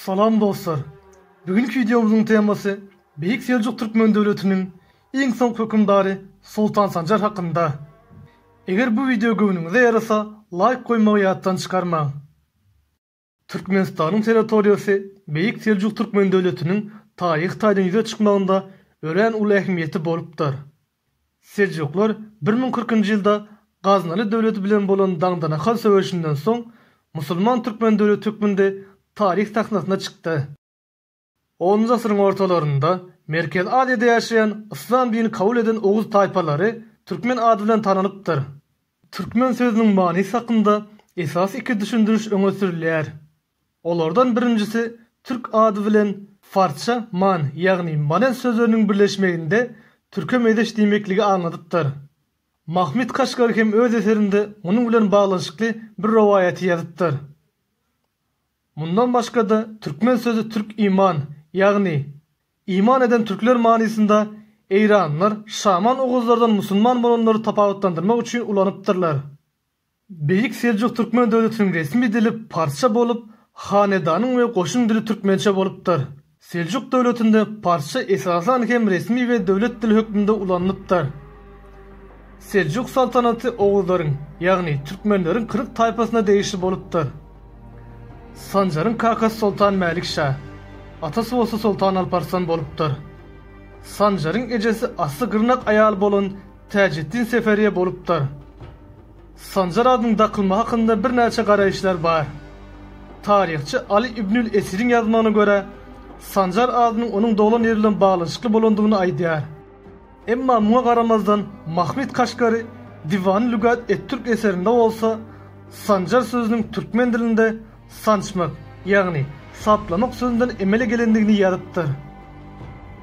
Salam dostlar! Bu günki wideomyzyň temasy Beýik Seljuk Türkmen döwletiniň iň soňky hökümdary Soltan Sanjar hakynda. Eger bu wideo göwnüňize ýarasa laýk goýmagy ýatdan çykarmaň. Türkmenistanyň sanatoriýasy Beýik Seljuk Türkmen döwletiniň taryhy taýdan ýüze çykmagynda örän uly ähmiýeti bolupdyr. Seljuklar bir müň kyrk njy ýylda Gaznaly döwleti bilen bolan Daňdanahal söweşinden soň musulman türkmen döwleti hökmünde taryh sahnasyna çykdy. Onunjy asyryň ortalarynda Merkezi Aziýada ýaşaýan yslam dini kabul eden oguz taýpalary türkmen ady bilen tananypdyr. Türkmen sözüniň manysy hakynda esasy iki düşündiriş öňe sürülýär. Olardan birinjisi türk ady bilen farsça man, ýagny manen sözleriniň birleşmeginde türke mezeş diýmekligi aňladypdyr. Mahmyt Kaşgary hem öz eserinde munuň bilen baglanyşykly bir rowaýaty ýazypdyr. Mundan başga-da türkmen sözi türk iman, ýagny Iman eden türkler manysynda eýranlylar şaman oguzlardan musulman bolanlary tapawutlandyrmak üçin ulanypdyrlar. Beýik Seljuk türkmen döwletiniň resmi dili parsça bolup, hanedanyň we goşun dili türkmençe bolupdyr. Seljuk döwletinde parsça esasan hem resmi we döwlet dili hökmünde ulanylypdyr. Seljuk saltanaty oguzlaryň, ýagny türkmenleriň kyrk taýpasyna degişli bolupdyr. Sanjaryň kakasy soltan Mälik şa, atasy bolsa soltan Alparslan bolupdyr. Sanjaryň ejesi asly gyrnak aýaly bolan Täjeddin Seferiýe bolupdyr. Sanjar adynyň dakylmagy hakynda birnäçe garaýyşlar bar. Taryhçy Aly ibnül Esiriň ýazmagyna görä, Sanjar adynyň onuň doglan ýeri bilen baglanyşykly bolandygyny aýdýar. Emma muňa garamazdan Mahmyt Kaşgary Diwan-ı Lügat et-Türk eserinde bolsa Sanjar sözüniň türkmen dilinde Sançmak, ýagny saplamak sözünden emele gelendigini ýazypdyr.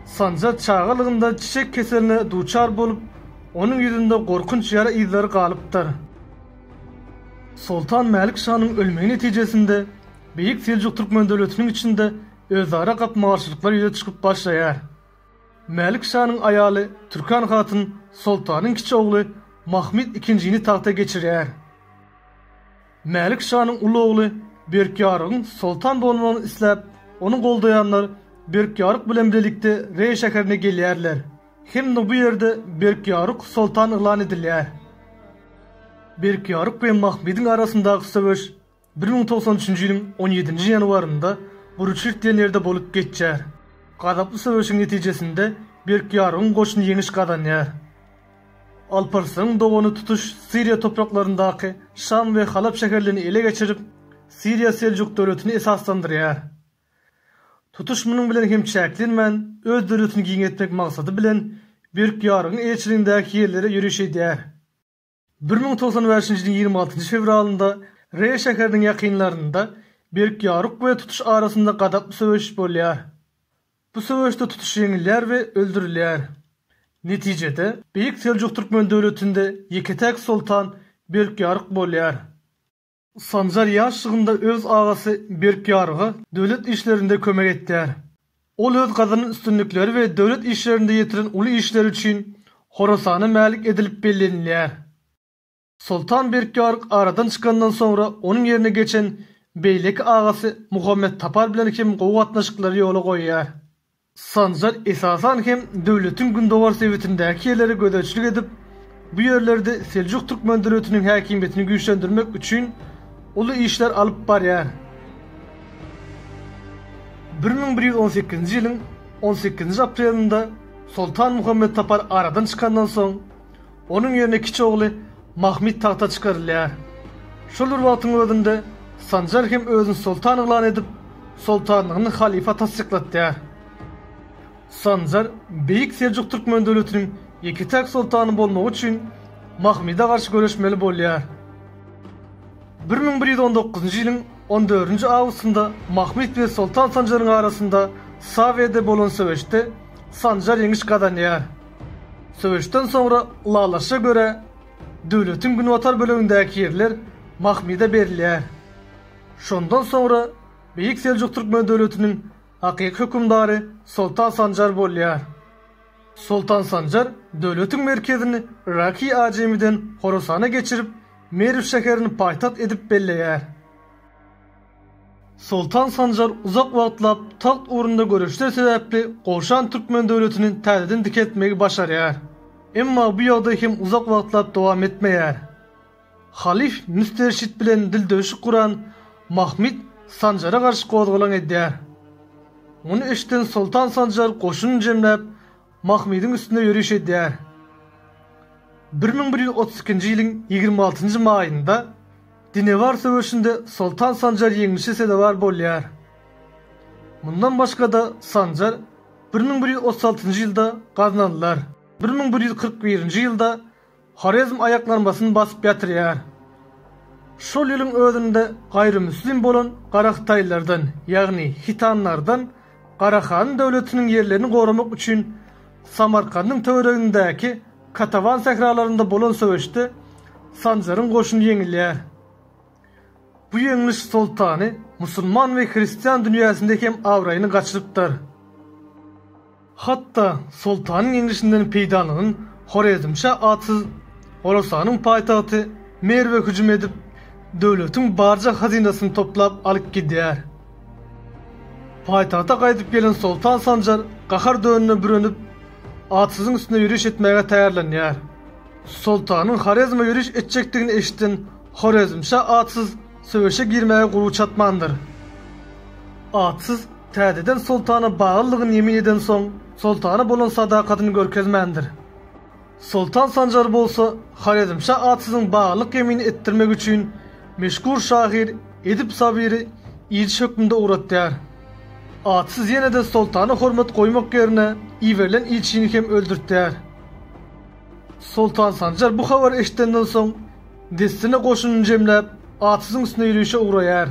Sanjar çagalygynda çiçek keseline duçar bolup, onuň ýüzünde gorkunç ýara yzlary galypdyr. Soltan Mälik şanyň ölmegi netijesinde Beýik Seljuk Türkmen döwletiniň içinde özara gapma-garşylyklar ýüze çykyp başlaýar. Mälik şanyň aýaly Türkan hatyn soltanyň kiçi ogly Mahmyt ikinjini tagta geçirýär. Mälik şanyň uly ogly Berkýarygyň soltan bolmagyny isläp, ony goldaýanlar Berkýaryk bilen bilelikde Reý şäherine gelýärler. Hem-de bu ýerde Berkýaryk soltan yglan edilýär. Berkýaryk we Mahmydyň arasyndaky söweş bir müň togsan üçünji ýylyň on ýedinji ýanwarynda Guruçyrt diýen ýerde bolup geçýär. Gazaply söweşiň netijesinde Berkýarygyň goşuny ýeňiş gazanýar. Alparslan dogany tutuş Siriýa topraklaryndaky Şam we Halap şäherlerini ele geçirip, Siriýa Seljuk döwletini esaslandyrýar. Tutuş munuň bilen hem çäklenmän, öz döwletini giňeltmek maksady bilen Berk Ýarygyň eýeçiligindäki ýerlere ýöriş edýär. Bir müň togsan bäşinji ýylyň ýigrimi altynjy fewralynda Re şäheriniň ýakynlarynda Berk Ýaryk we Tutuş arasynda gazaply söweş bolýar. Bu söweşde tutuş ýeňilýär we öldürilýär. Netijede, Beýik Seljuk Türkmen döwletinde ýeke-täk soltan Berkýaryk bolýar. Sanjar ýaşlygynda öz agasy Berkýaryga döwlet işlerinde kömek etýär. Ol öz gazanan üstünlikleri we döwlet işlerinde ýetiren uly işleri üçin Horasana mälik edilip bellenilýär. Soltan Berkýaryk aradan çykandan soňra onuň ýerine geçen beýleki agasy Muhammet Tapar bilen hem gowy gatnaşyklary ýola goýýar. Sanjar esasan hem döwletiň gündogar sebitindäki ýerlere gözegçilik edip, bu ýerlerde Seljuk türkmen döwletiniň häkimiýetini güýçlendirmek üçin uly işler alyp barýar. Bir müň bir ýüz on sekizinji ýylyň on sekizinji aprelinde Soltan Muhammet Tapar aradan çykandan soň, Onuň ýerine kiçi ogly Mahmyt tagta çykarylýar. Şol bir wagtyň özünde Sanjar hem özüni soltan yglan edip, soltanlygyny halyfa tassyklatýar. Sanjar Beýik Seljuk Türkmen döwletiniň ýeke-täk soltany bolmagy üçin Mahmyda garşy göreşmeli bolýar. Bir müň bir ýüz on dokuzynjy ýylyň on dördünji awgustynda Mahmyt we Soltan Sanjaryň arasynda Sawede bolan söweşde Sanjar ýeňiş gazanýar. Söweşden soňra ylalaşa görä, döwletiň günbatar bölegindäki ýerler Mahmyda berilýär. Şondan soňra Beýik Seljuk Türkmen döwletiniň hakyky hökümdary Soltan Sanjar bolýar. Soltan Sanjar döwletiň merkezini Yraky Ajemiden Horasana geçirip, Merw şäherini paýtagt edip belleýär. Soltan Sanjar uzak wagtlap tagt ugrunda göreşler sebäpli gowşan türkmen döwletini täzeden dikeltmegi başarýar. Emma bu ýagdaý hem uzak wagtlap dowam etmeýär. Halyf Müsterşit bilen dildöwşük guran Mahmyt Sanjara garşy gozgalaň edýär. Muny eşiden Soltan Sanjar goşunyny jemläp, Mahmydyň üstünde ýöriş edýär. Bir müň bir ýüz otuz ikinji ýylyň ýigrimi altynjy maýynda Dinewar söweşinde Soltan Sanjar ýeňlişe sezewar bolýar. Mundan başga-da Sanjar bir müň bir ýüz otuz altynjy ýylda gaznalylar. Bir müň bir ýüz kyrk birinji ýylda Horezm aýaklanmasyn basyp ýatyrýar. Şol ýylyň özünde gaýrymüslim bolan garahytaýlardan, ýagny hitanlardan Garahanyň döwletiniň ýerlerini goramak üçin Samarkandyň töweregindäki Katawan sähralarynda bolan söweşde Sanjaryň goşuny ýeňilýär. Bu ýeňliş soltany musulman we hristian dünýäsinde hem abraýyny gaçyrypdyr. Hatda soltanyň ýeňlişinden peýdalanan Horezmşa atsyz Horasanyň paýtagty Merwe hüjüm edip, döwletiň barja hazynasyny toplap alyp gidýär. Paýtagta gaýdyp gelen soltan Sanjar gahar dönüne bürenip, atsyzyň üstüne ýöriş etmäge taýýarlanýar. Soltanyň Horezme ýöriş etjekdigini eşiden Horezmşa atsyz söweşe girmäge guwy çatmandyr. Atsyz täzeden soltana baglylygyny ýemin edensoň, soltana bolan sadakatyny görkezmändir. Soltan Sanjar bolsa Horezmşa atsyzyň baglylyk ýemini etdirmek üçin meşhur şahyr Edip Sabyry ilçi hökmünde ugratýar. Atsyz ýene-de soltana hormat goýmak ýerine iberilen ilçini hem öldürtýär. Soltan Sanjar bu habary eşidenden soň, dessine goşunyny jemläp, Atyzyň üstüne ýörişe ugraýar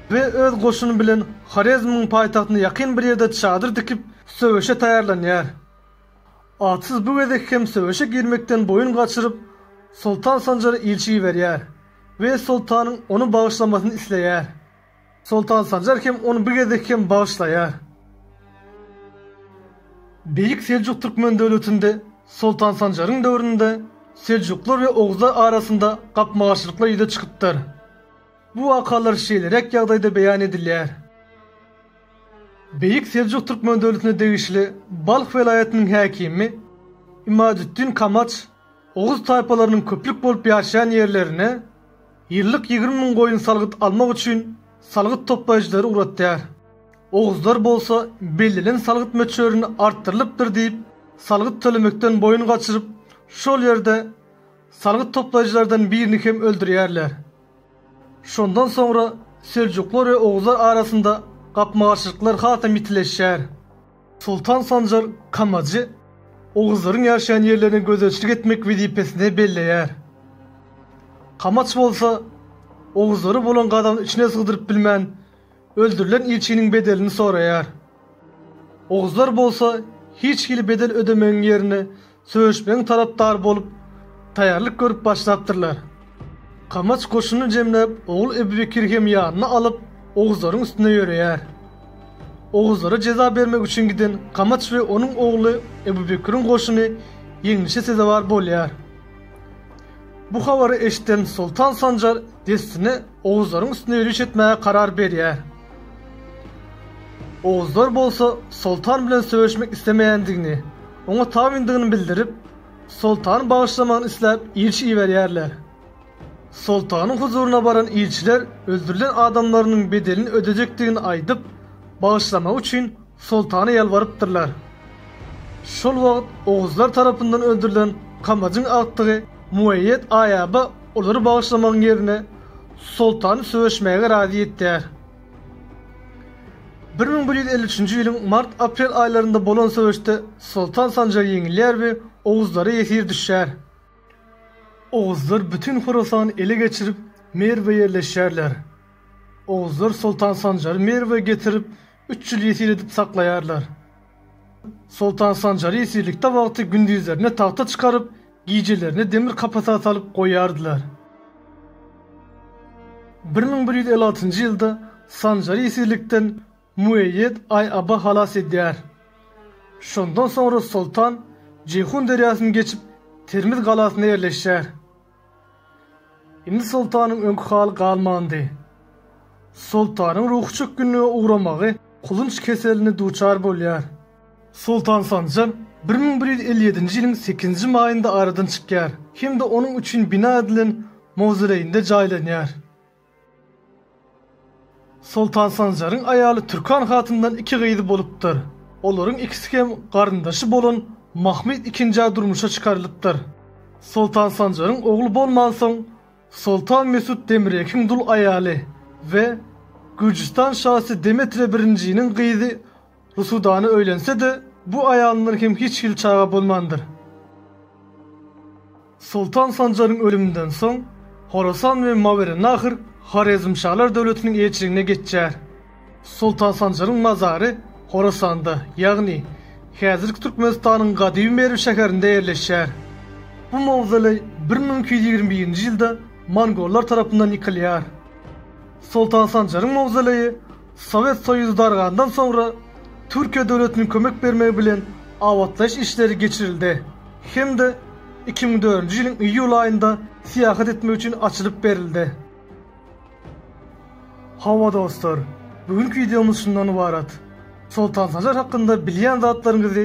we öz goşuny bilen Horezmiň paýtagtyna ýakyn bir ýerde çadyr dikip, söweşe taýýarlanýar. Atsyz bu gezek hem söweşe girmekden boýun gaçyryp, Soltan Sanjara ilçi iberýär we soltanyň ony bagyşlamasyny isleýär. Soltan Sanjar hem ony bu gezek hem bagyşlaýar. Beýik Seljuk Türkmen döwletinde Soltan Sanjaryň döwründe Seljuklar we Oguzlar arasynda gapma-garşylyklar ýüze çykypdyr. Bu wakalar şeýleräk ýagdaýda beýan edilýär. Beýik Seljuk Türkmen döwletine degişli Balh welaýatynyň häkimi Imadütdin Kamaç oguz taýpalarynyň köplük bolup ýaşaýan ýerlerine, Ýyllyk ýigrimi müň goýun salgyt almak üçin salgyt toplaýjylary ugratýar. Oguzlar bolsa bellenen salgyt möçberini artdyrylypdyr diýip, salgyt tölemekden boýun gaçyryp, şol ýerde salgyt toplaýjylardan birini hem öldürýärler. Şondan soňra seljuklar we oguzlar arasynda gapma-garşylyklar hasam ýitileşýär. Soltan Sanjar Kamajy oguzlaryň ýaşaýan ýerlerine gözegçilik etmek wezipesine belleýär. Kamaç bolsa, oguzlary bolan gazabyny içine sygdyryp bilmän, öldürilen ilçiniň bedelini soraýar. Oguzlar bolsa hiç hili bedel ödemegiň ýerine Söweşmegiň tarapdary bolup, taýýarlyk görüp başlapdyrlar. Kamaç goşunyny jemläp, ogly Ebubekiri hem ýanyna alyp, oguzlaryň üstüne ýöreýär. Oguzlara jeza bermek üçin giden Kamaç we onuň ogly Ebubekiriň goşuny ýeňlişe sezewar bolýar. Bu habary eşiden Soltan Sanjar dessine oguzlaryň üstüne ýöriş etmäge karar berýär. Oguzlar bolsa Soltan bilen söweşmek islemeýändigini, Oňa tabyndygyny bildirip, soltany bagyşlamagyny isläp ilçi iberýärler. Soltanyň huzuryna baran ilçiler öldürilen adamlarynyň bedelini ödejekdigini aýdyp, bagyşlamagy üçin soltana ýalbarypdyrlar. Şol wagt oguzlar tarapyndan öldürilen Kamajyň agtygy Mueýýet Aýaba olary bagyşlamagyň ýerine, soltany söweşmäge razy etýär. Bir müň bir ýüz elli üçünji ýylyň mart-aprel aýlarynda bolan söweşde Soltan Sanjar ýeňilýär we oguzlara ýesir düşýär. Oguzlar bütin Horasany ele geçirip, Merwe ýerleşýärler. Oguzlar Soltan Sanjary Merwe getirip, üç ýyl ýesir edip saklaýarlar. Soltan Sanjary ýesirlikde wagty gündizlerine tagta çykaryp, Gijelerini demir kapasa salyp goýardylar. Bir müň bir ýüz elli altynjy ýylda Sanjary ýesirlikden Mueýýed Aý-Aba halas edýär. Şondan soňra soltan Jeýhun derýasyny geçip, Termiz galasyna ýerleşýär. Indi soltanyň öňki haly galmandy. Soltanyň ruhy çökgünlige ugramagy kulunç keseline duçar bolýar. Soltan Sanjar bir müň bir ýüz elli ýedinji ýylyň sekizinji maýynda aradan çykýar hem-de onuň üçin bina edilen mawzoleýinde jaýlanýar. Soltan Sanjaryň aýaly Türkan hatyndan iki gyzy bolupdyr. Olaryň ikisi hem garyndaşy bolan Mahmyt II-ä durmuşa çykarylypdyr. Soltan Sanjaryň ogly bolmansoň, Soltan Mesut Demrekiň dul aýaly we Gürjüstan şasy Demetre I-niň gyzy Rusudana öýlense-de, bu aýalyndan hem hiç hili çaga bolmandyr. Soltan Sanjaryň ölüminden soň, Horasan we Mawerennahr Horezmşalar döwletiniň eýeçiligine geçýär. Soltan Sanjaryň mazary Horasanda, ýagny häzirki Türkmenistanyň gadymy Merw şäherinde ýerleşýär. Bu mawzoleý bir müň iki ýüz ýigrimi birinji ýylda mongollar tarapyndan ýykylýar. Soltan Sanjaryň mawzoleýi Sowet Soýuzy dargandan soňra Türkiýe döwletiniň kömek bermegi bilen abatlaýyş işleri geçirildi hem-de iki müň dördünji ýylyň iýul aýynda syýahat etmek üçin açylyp berildi. Hawa dostlar, bu günki wideomyz şundan ybarat. Soltansajar hakynda bilýän zatlaryňyzy